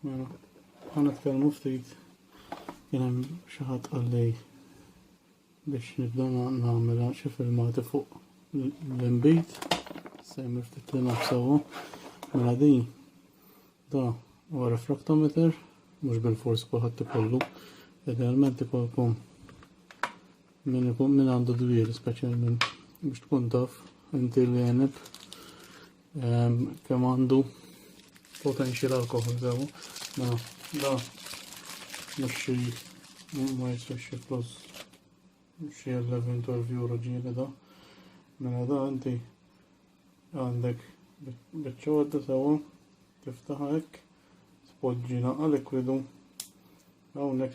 Mela, ħana tkellmu ftit kien hemm xi ħadd qalli biex nibda nagħmilha xi filmati fuq l-inbid se jmur ftit li nafsawu mela din da huwa refraktometer mhux bil-fors kulħadd ikollu idealment ikolkom Min ikun min għandu dbir speċjalment biex tkun taf inti li għenib ehm, kemm għandu potential alkohol sewu. Ma da mhux xi ma jistax xi flus xi 11 view raġieli da. Mela da inti Għandek biċċodda sewa tiftaħ hekk, tpoġġi naqa' likwidu hawnhekk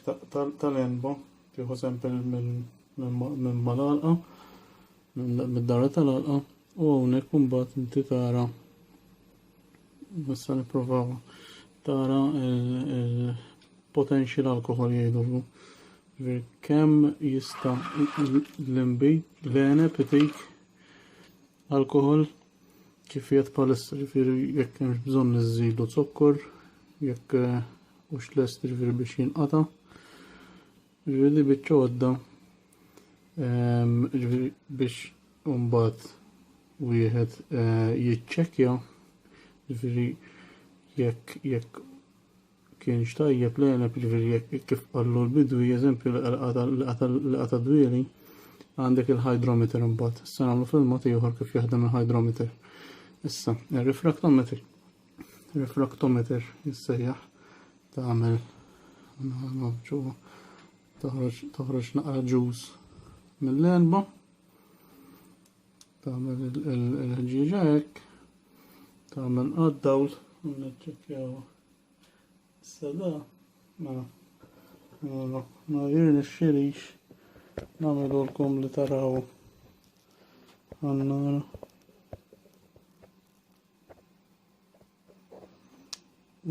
tal-enba tieħu sempel minn mal-alqa mid-dara tal-alqa u hawnhekk imbagħad inti tara nista' nipprovaw tara il-potential alkohol jgħidulu. Kem jista l-imbi l-għeneb itik Alkohol kif jgħid palissa ġifieri jekk hemmx bżonn iżidu zokkor, jekk eh, hux lest ġifieri biex jinqata. Ġifieri biċċa għodda ehm, ġifieri biex mbagħad wieħed eh, jiċċekkja ġifieri jekk jekk kienx tajjeb l-għeneb ġviri jekk kif qallu l-bidwi, eżempju li qata dwieli, għandek il-hydrometer imbagħad. Issa nagħmlu filma ieħor kif jaħdem il-hydrometer. Issa, il-refraktometer. Refraktometer jissejjaħ tagħmel ġewwa toħroġ naqra ġuż mill-erba. Tagħmel il-ħġieġa hekk, tagħmel għad-dawl u niċċekkjaw. Issa da, ma ma jirni xirix nagħmlu lkom li taraw għannar.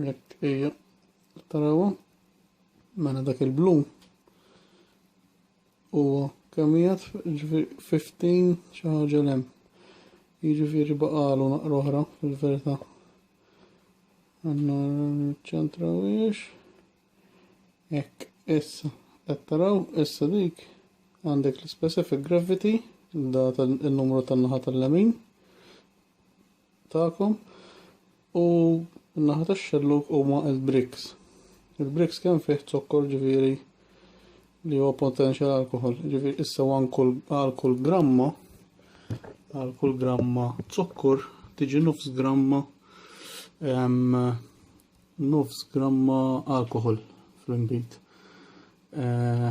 Jekk ejja taraw mela dak il-blu Huwa kemm qiegħed, jiġifieri 15 xi ħaġa l hemm. Jiġifieri baqalu naqra oħra fil-verità. Għandna ċentra wiex. Hekk, issa qed taraw issa dik għandek l-specific gravity, data n numru tan-naħa tal-lemin. tagħkom u n-naħa tax-xellug huma l-bricks. Il-bricks kemm fih zokkor ġifieri li huwa potenzjal alkohol, ġifieri issa għal kull gramma għal kull gramma zokkor tiġi nofs gramma nofs gramma alkohol fl-imbit. Eh,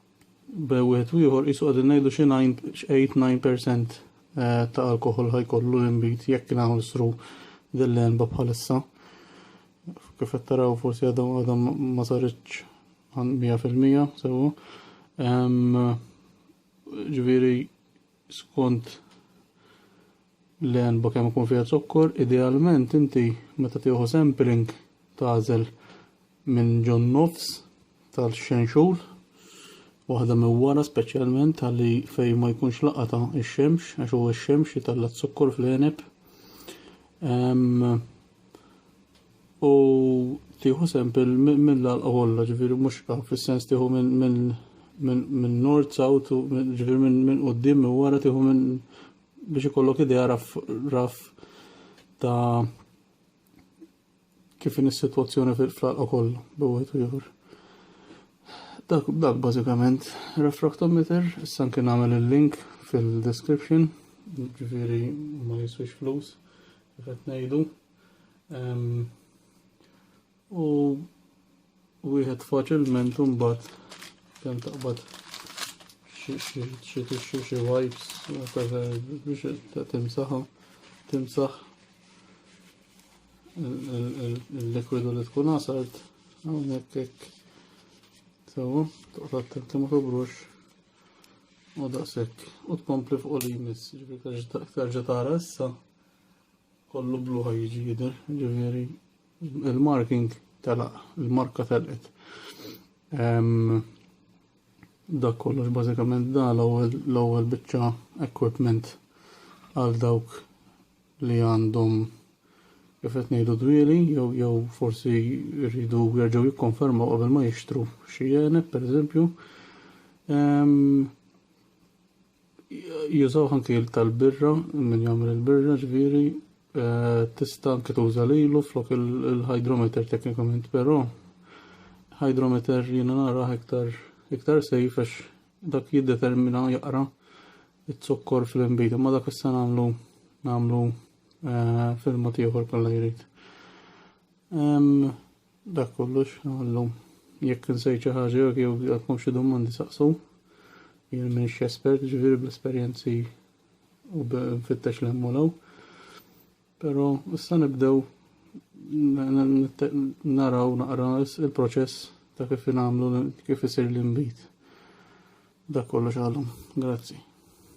Bejn wieħed u ieħor qisu qegħdin ngħidu xi nine x'eight nine percent eh, ta' alkoħol ħajkollu l-inbid jekk naħsru din l-għenba bħalissa. Kif qed taraw forsi għadhom għadhom ma saritx għan 100% sewa. Ġifieri skont L-għenba kemm ikun fiha zokkor, idealment inti meta tieħu sampling tagħżel minn ġo n-nofs tal-xenxul, waħda minn wara speċjalment ħalli fejn ma jkunx laqata x-xemx għax huwa x-xemx li talla' zokkor fl-għeneb. U tieħu sampil mill-għalqa kollha, ġifieri mhux fis-sens tieħu minn north south, ġifieri minn quddiem minn wara tieħu minn biex ikollok idea raf, raf ta' kif in is-sitwazzjoni fil-flalqa kollha b'wieħed u ieħor. Dak, dak bażikament refractometer, issa anke nagħmel il-link fil-description, ġifieri ma jiswix flus, kif qed ngħidu. U wieħed faċilment imbagħad kemm taqbad xi tixxu xi wipes biex timsaħa timsaħ il-likwidu li tkun għasart hawnhekk hekk. Sewa, toqgħod attent li ma tobrux u daqshekk u tkompli fuq li jmiss, ġifieri terġa' tara issa kollu blu ħajġi jidher, ġifieri Il-marking telaq, il-marka telqet. Dak kollox bażikament da l-ewwel biċċa equipment għal dawk li għandhom kif qed ngħidu dwieli jew jew forsi rridu jerġgħu jikkonfermaw qabel ma jixtru xi jeneb pereżempju. Jużaw anki tal-birra, min jagħmel il-birra ġviri, eh, tista' anki tuża lilu flok il-hydrometer teknikament, però hydrometer jiena nara iktar iktar sejf għax dak jiddetermina jaqra it-zokkor fl-imbid, imma dak issa nagħmlu nagħmlu eh, filma ieħor kollha jrid. Dak kollux għallum. Jekk insejt xi ħaġa jew jew għandkom xi domandi saqsu. Jien m'iniex espert ġifieri bl-esperjenzi u b'fittex l hemm u law. Però issa nibdew naraw naqra il-proċess ta' kif nagħmlu kif isir l-inbid. Dak kollox għalhom. Grazzi.